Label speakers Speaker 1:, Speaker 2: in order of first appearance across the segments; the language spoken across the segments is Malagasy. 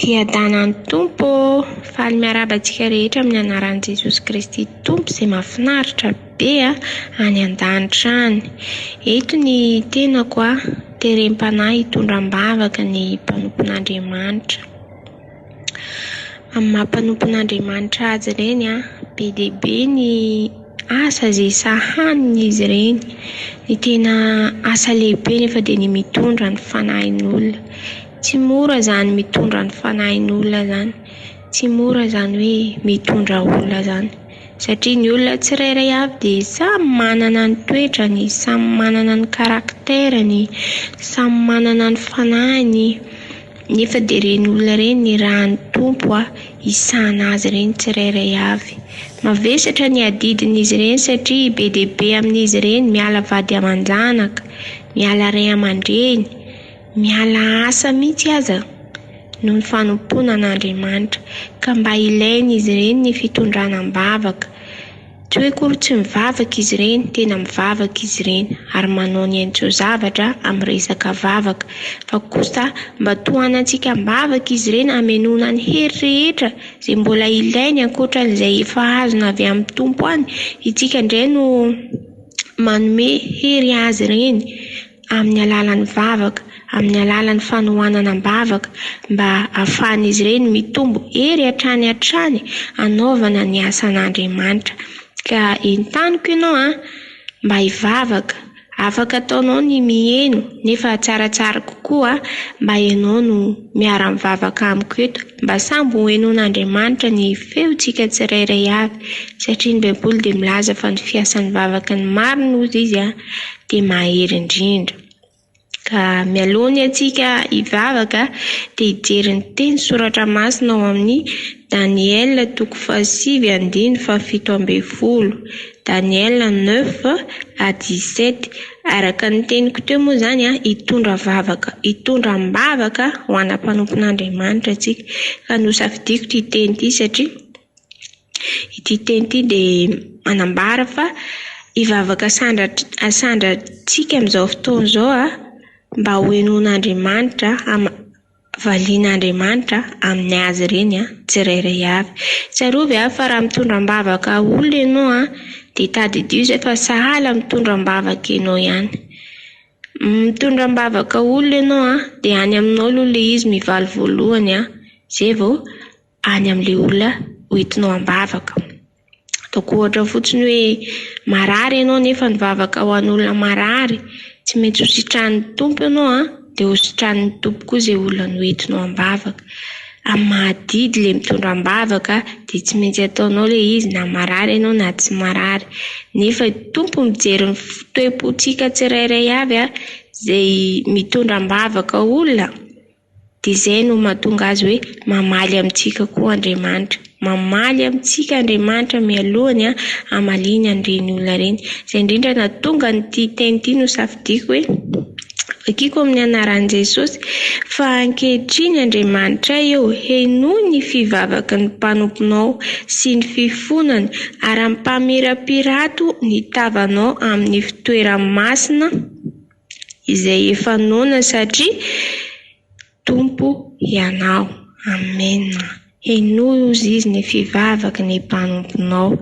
Speaker 1: Hiadanan'ny Tompo ô! Faly miarahaba antsika rehetra amin'ny anaran'i Jesosy Kristy Tompo izay mahafinaritra be any an-danitra any. Eto ny tenako, terem-panahy hitondra am-bavaka ny mpanompon'Andriamanitra. Amin'ny maha mpanompon'Andriamanitra azy ireny, be dia be ny asa izay sahanin'izy ireny. Ny tena asa lehibe anefa dia ny mitondra ny fanahin'olona. Tsy mora izany mitondra ny fanahin'olona izany, tsy mora izany hoe mitondra olona izany satria ny olona tsirairay avy dia samy manana ny toetrany, samy manana ny karakterany, samy manana ny fanahiny. Nefa dia ireny olona ireny nirahan'ny Tompo a, hisahana azy ireny tsirairay avy. Mavesatra ny adidin'izy ireny satria be dia be amin'izy ireny miala vady aman-janaka, miala ray aman-dreny, miala asa mihitsy aza noho ny fanompoana an'Andriamanitra. Ka mba ilain'izy ireny ny fitondrana am-bavaka. Tsy hoe akory tsy mivavaka izy ireny, tena mivavaka izy ireny ary manao ny hainy tsy ho zavatra amin'ny resaka vavaka fa kosa mba tohanantsika am-bavaka izy ireny hamenoana ny hery rehetra izay mbola ilainy ankoatran'izay efa azony avy amin'ny Tompo any, itsika indray no manome hery azy ireny. amin'ny alalan'ny vavaka, amin'ny alalan'ny fanohanana am-bavaka mba hahafahan'izy ireny mitombo hery hatrany hatrany hanaovana ny asan'Andriamanitra. Ka entaniko ianao an, mba hivavaka, afaka ataonao ny miheno nefa tsaratsara kokoa mba ianao no. miara-mivavaka amiko eto, mba sambo ho henoin'Andriamanitra ny feontsika tsirairay avy, satria ny Baiboly dia milaza fa ny fiasan'ny vavaka ny marina hozy izy a, dia mahery indrindra. Ka mialoha ny antsika hivavaka dia hijery ny teny soratra masina ao amin'ny Daniela toko fahasivy andiny fahafito ambin'ny folo, Daniela neuf à dix sept, Araka ny teniko teo moa izany, hitondra vavaka, hitondra am-bavaka ho ana mpanompon'Andriamanitra isika. Ka nosafidiako ity teny ity satria ity teny ity dia manambara fa hivavaka asandratr- asandratsika amin'izao fotoana izao mba ho henoin'Andriamanitra, Valian'Andriamanitra amin'ny azy ireny tsirairay avy. Tsarovy ary fa raha mitondra am-bavaka olona ianao dia tadidio izay fa sahala mitondra am-bavaka ianao ihany. Mitondra am-bavaka olona ianao dia any aminao aloha ilay izy mivaly voalohany izay vao any amin'ilay olona hoentinao am-bavaka. Ataoko ohatra fotsiny hoe marary ianao nefa nivavaka ho an'olona marary. Tsy maintsy ho sitranin'ny Tompo ianao an, dia ho sitranin'ny Tompo koa izay olona noentinao am-bavaka. Amin'ny maha adidy ilay mitondra am-bavaka dia tsy maintsy ataonao ilay izy na marary ianao na tsy marary. Nefa i Tompo mijery ny toe-pontsika tsirairay avy izay mitondra am-bavaka olona. Dia izay no mahatonga azy hoe mamaly amintsika koa Andriamanitra. Mamaly amintsika Andriamanitra mialoha ny hamaliany an'ireny olona ireny. Izay indrindra nahatonga an'ity teny ity nosafidiako hoe vakiako amin'ny anaran'i Jesosy fa ankehitriny Andriamanitray ô, henoy ny fivavaky ny mpanomponao sy ny fifonany ary ampamirapirato ny tavanao amin'ny fitoerany masina. izay efa noana satria Tompo Hianao. Amena. Henoy ozy izy ny fivavaky ny mpanomponao.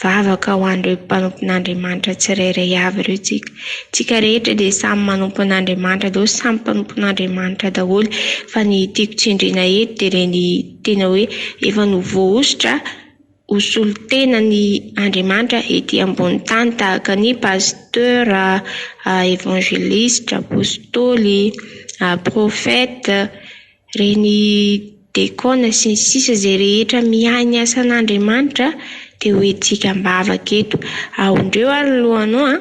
Speaker 1: Vavaka ho an'ireo mpanompon'Andriamanitra tsirairay avy ireo tsika. Tsika rehetra dia samy manompo an'Andriamanitra daholo, samy mpanompon'Andriamanitra daholo fa ny tiako tsindriana eto dia ilay ny tena hoe efa novoahosotra. ho solontena ny Andriamanitra ety ambony tany tahaka ny Pasteur, Evangeliste, Apostoly, Prophète, reny Dekona sy ny sisa izay rehetra miahy ny asan'Andriamanitra dia ho hetsika am-bavaka eto. Aondreo ary ny lohanao an!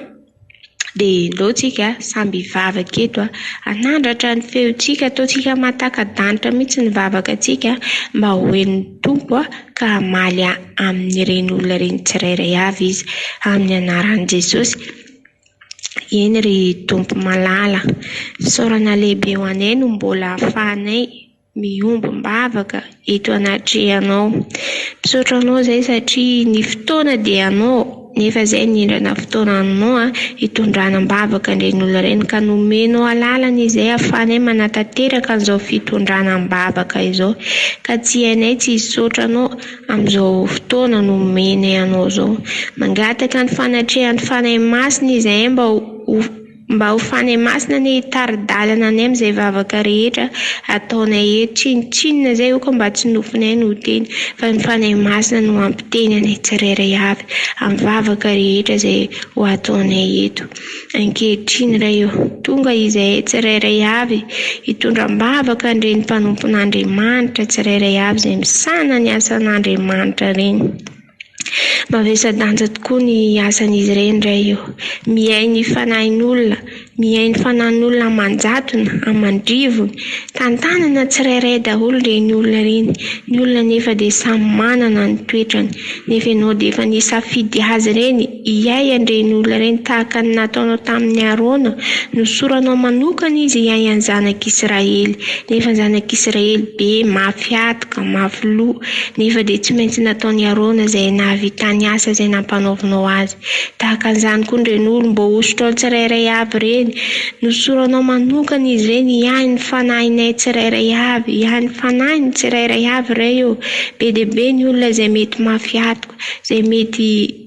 Speaker 1: Dia ndao tsika samby hivavaka eto hanandratra ny feontsika, ataontsika mahataka-danitra mihitsy ny vavakantsika mba ho henon'ny Tompo ka hamaly amin'ireny olona ireny tsirairay avy Izy amin'ny anaran'i Jesosy. Eny ry Tompo malala, fisaorana lehibe ho anay no mbola ahafahanay. mihombom-bavaka eto anatrehanao. Misaotra anao izay satria ny fotoana dia anao nefa izay nindrana fotoana aminao hitondrana am-bavaka an-dRainolo ireny ka nomenao alalana izay ahafahanay manatanteraka an'izao fitondrana am-bavaka izao ka tsy hainay tsy hisaotra anao amin'izao fotoana nomenay anao izao. Mangataka ny fanatrehan'ny Fanahy Masina izahay mba ho Mba ho fanahy masina anie hitari-dalana anay amin'izay vavaka rehetra ataonay eto. Tsinontsinona izay io ka mba tsy nofinay no ho teny fa ny fanahy masina no hampiteny anay tsirairay avy amin'ny vavaka rehetra izay ho ataonay eto ankehitriny. Ray ô, tonga izahay tsirairay avy hitondra am-bavaka an'ireny mpanompon'Andriamanitra tsirairay avy izay misahana ny asan'Andriamanitra ireny. Mavesa-danja tokoa ny asan'izy ireny indray io. Miahy ny fanahin'olona, miahy ny fanan'olona aman-jatony, aman-drivony. Tantanana tsirairay daholo ireny olona ireny. Ny olona anefa dia samy manana ny toetrany, nefa ianao dia efa nisafidy azy ireny. hiahy an'ireny olona ireny tahaka ny nataonao tamin'i Arona. Nosoranao manokana izy hiahy ny zanak'Israely. Nefa ny zanak'Israely be, mafy hatoka, mafy loha. Nefa dia tsy maintsy nataon'i Arona izay nahavitany asa izay nampanaovinao azy. Tahaka an'izany koa ny ren'olona, mba hosotrao tsirairay avy ireny. Nosoranao manokana izy ireny hiahy ny fanahinay tsirairay avy, hiahy ny fanahin'ny tsirairay avy Ray ô. Be dia be ny olona izay mety mafy hatoka, izay mety.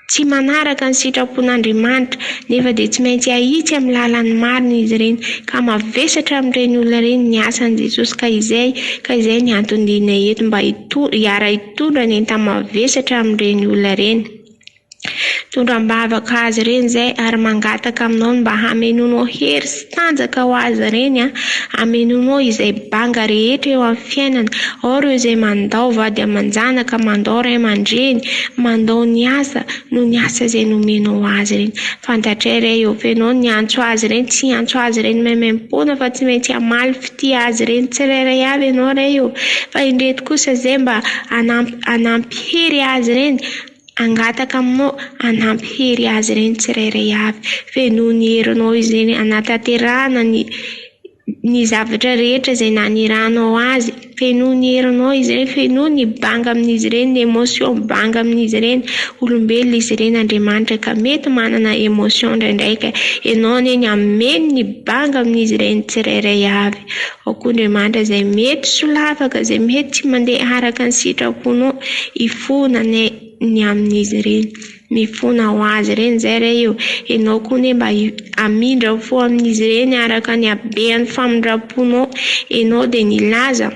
Speaker 1: tsy manaraka ny sitrapon'Andriamanitra, nefa dia tsy maintsy ahitsy amin'ny lalan'ny marina izy ireny, ka mavesatra amin'ireny olona ireny ny asan'i Jesosy ka izay ka izay ny antony dihinay eto mba hiara hitondra ny enta-mavesatra amin'ireny olona ireny. Tondra am-bavaka azy ireny izay ary mangataka aminao ny mba hamenoanao hery sy Tanjaka ho azy ireny an! Ameno moa izay banga rehetra eo amin'ny fiainana, ao ireo izay mandao vady aman-janaka, mandao ray aman-dreny, mandao ny asa noho ny asa izay nomenao azy ireny. Fantatray re eo fenao ny antso azy ireny, tsy hiantso azy ireny maimaimpoana fa tsy maintsy hamaly fitia azy ireny tsirairay avy ianao re eo, fa indreto kosa izay mba hanampy hanampy hery azy ireny, Hangataka aminao hanampy hery azy ireny tsirairay avy. Fenoy ny herinao izay hanatanterahana ny ny zavatra rehetra izay naniranao azy. Fenoy ny herinao izay, fenoy ny banga amin'izy ireny, ny emotion banga amin'izy ireny. Olombelona izy ireny Andriamanitra ka mety manana emotion ndraindraika. Enao anie ny hameno ny banga amin'izy ireny tsirairay avy. Ao koa Andriamanitra izay mety solafaka, izay mety tsy mandeha araka ny sitra-ponao. Hifona anie ny amin'izy ireny. Mifona ho azy ireny izay re io. Ianao koa anie mba hamindra fo amin'izy ireny araka ny habean'ny famindram-ponao. Ianao dia nilaza.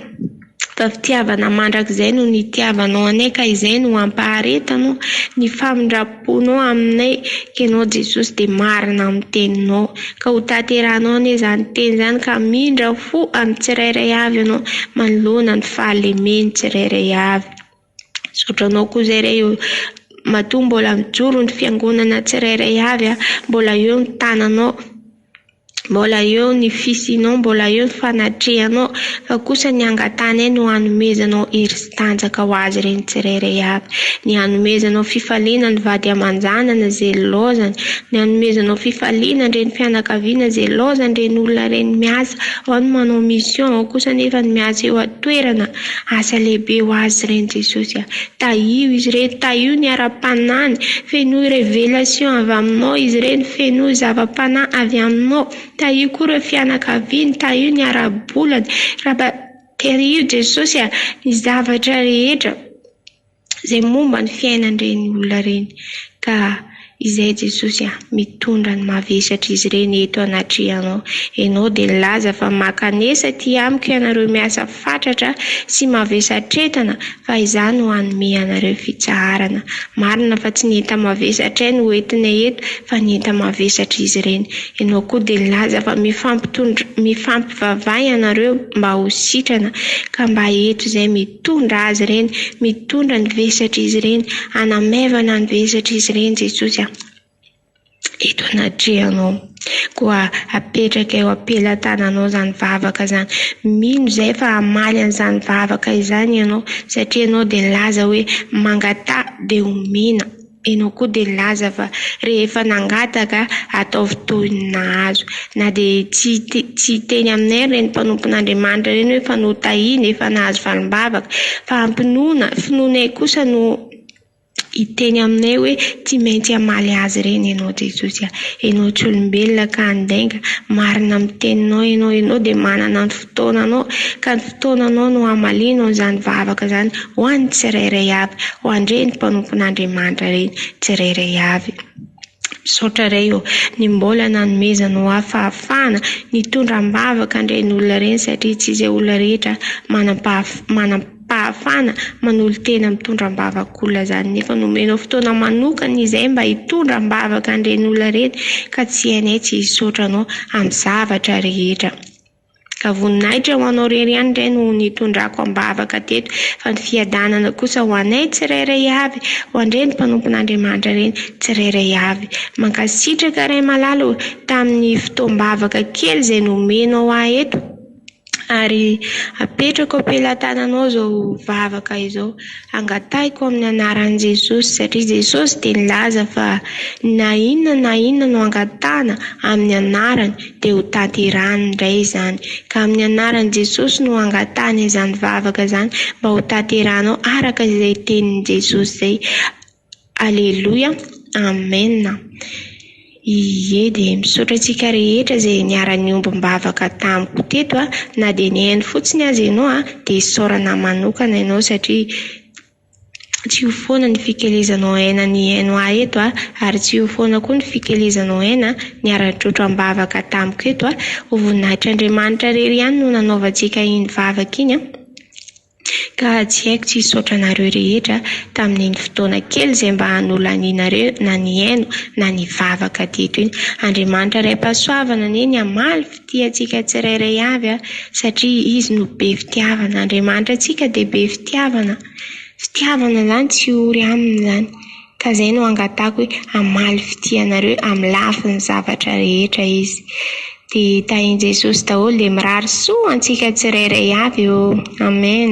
Speaker 1: Fa fitiavana mandrakizay no nitiavanao anay ka izay no ampaharetanao ny famindram-ponao aminay Ianao Jesosy dia marina amin'ny teninao ka ho tanterahanao anie izany teny izany ka hamindra fo amin'ny tsirairay avy Ianao manoloana ny fahalemen'ny tsirairay avy. Misaotra anao koa izay re eo. Matoa mbola mijoro ny fiangonana tsirairay avy, mbola eo ny tananao, mbola eo ny fisianao, mbola eo ny fanatrehanao, fa kosa ny angatanay no hanomezanao hery sy tanjaka ho azy ireny tsirairay avy. Ny hanomezanao fifaliana ny vady aman-janany izay nilaozany, ny hanomezanao fifaliana ny renim-pianakaviana izay nilaozany ireny olona ireny miasa, ao ny manao mission, ao kosa anefa ny miasa eo an-toerana. Asa lehibe ho azy ireny Jesosy a! Tahio izy ireny, tahio ny ara-panahiny, fenoy révélation avy aminao izy ireny, fenoy zava-panahy avy aminao, tahio koa ireo fianakaviany, tahio ny ara-bolany, Raba, tahio Jesosy a, ny zavatra rehetra. izay momba ny fiainan'ireny olona ireny ka izay Jesosy a! mitondra ny mavesatr'izy ireny eto anatrehanao. Ianao dia nilaza fa mankanesa aty amiko ianareo miasa fatratra sy mavesatretana fa izaho no hanome anareo fitsaharana. Marina fa tsy ny enta-mavesatray no hoentinay eto fa ny enta-mavesatr'izy ireny. Ianao koa dia nilaza fa mifampitondra mifampivavaha ianareo mba ho sitrana ka mba eto izay Mitondra azy ireny, mitondra ny vesatr'izy ireny, hanamaivana ny vesatr'izy ireny Jesosy a! Eto anatrehanao, koa apetraka eo am-pelatananao izany vavaka izany. Mino izay fa hamaly an'izany vavaka izany ianao, satria ianao dia nilaza hoe, Mangataha, dia homena. Enao koa dia nilaza fa rehefa nangataka ataovy toy ny nahazo. Na dia tsy tsy hiteny aminay ary ireny mpanompon'Andriamanitra ireny hoe efa notahina, efa nahazo valim-bavaka. Fa hampinoana, finoanay kosa no hiteny aminay hoe tsy maintsy hamaly azy ireny Ianao Jesosy a. Ianao tsy olombelona ka handainga. Marina amin'ny teninao Ianao. Ianao dia manana ny. fotoananao, ka ny fotoananao no hamalianao izany vavaka izany ho an'ny tsirairay avy, ho an'ireny mpanompon'Andriamanitra ireny tsirairay avy. Misaotra Ray ô, ny mbola nanomezanao ahy fahafahana nitondra am-bavaka an'ireny olona ireny satria tsy izay olona rehetra manam-pahaf- manam-pahafana manolo-tena mitondra am-bavak'olona izany nefa nomenao fotoana manokana izay mba hitondra am-bavaka an'ireny olona ireny ka tsy hainay tsy hisaotra anao amin'ny zavatra rehetra. Ka voninahitra ho Anao irery ihany indray no nitondrako am-bavaka teto, fa ny fiadanana kosa ho anay tsirairay avy, ho an-dReny mpanompon'Andriamanitra ireny tsirairay avy. Mankasitraka Ray malala ô, tamin'ny fotoam-bavaka kely izay nomenao ahy eto, ary apetrako am-pelatananao izao vavaka izao. Angatahiko amin'ny anaran'i Jesosy, satria Jesosy dia nilaza fa na inona na inona no angatahana amin'ny anarany, dia ho tanterahiny indray izany, ka amin'ny anaran'i Jesosy no angatahana izany vavaka izany mba ho tanterahanao araka izay tenin'i Jesosy izay, Aleloia, Amen. Ie dia misaotra antsika rehetra izay niara-niombom-bavaka tamiko teto, na dia ny haino fotsiny aza ianao dia isaorana manokana ianao satria Tsy io foana ny fikelezanao aina nihaino ahy eto ary tsy io foana koa ny fikelezanao aina niara-nitrotro am-bavaka tamiko eto. Ho voninahitr'Andriamanitra irery ihany no nanaovantsika iny vavaka iny ka tsy haiko tsy hisaotra anareo rehetra tamin'iny fotoana kely izay mba nolanianareo na nihaino na nivavaka teto iny. Andriamanitra Raim-pahasoavana anie ny hamaly. Tia antsika tsirairay avy satria Izy no be fitiavana. Andriamanitra antsika dia be fitiavana. Fitiavana izany tsy ory aminy izany. Ka izay no angatahiko hoe hamaly fitia anareo amin'ny lafiny zavatra rehetra Izy. Dia tahin'i Jesosy daholo dia mirary soa antsika tsirairay avy ô. Amen.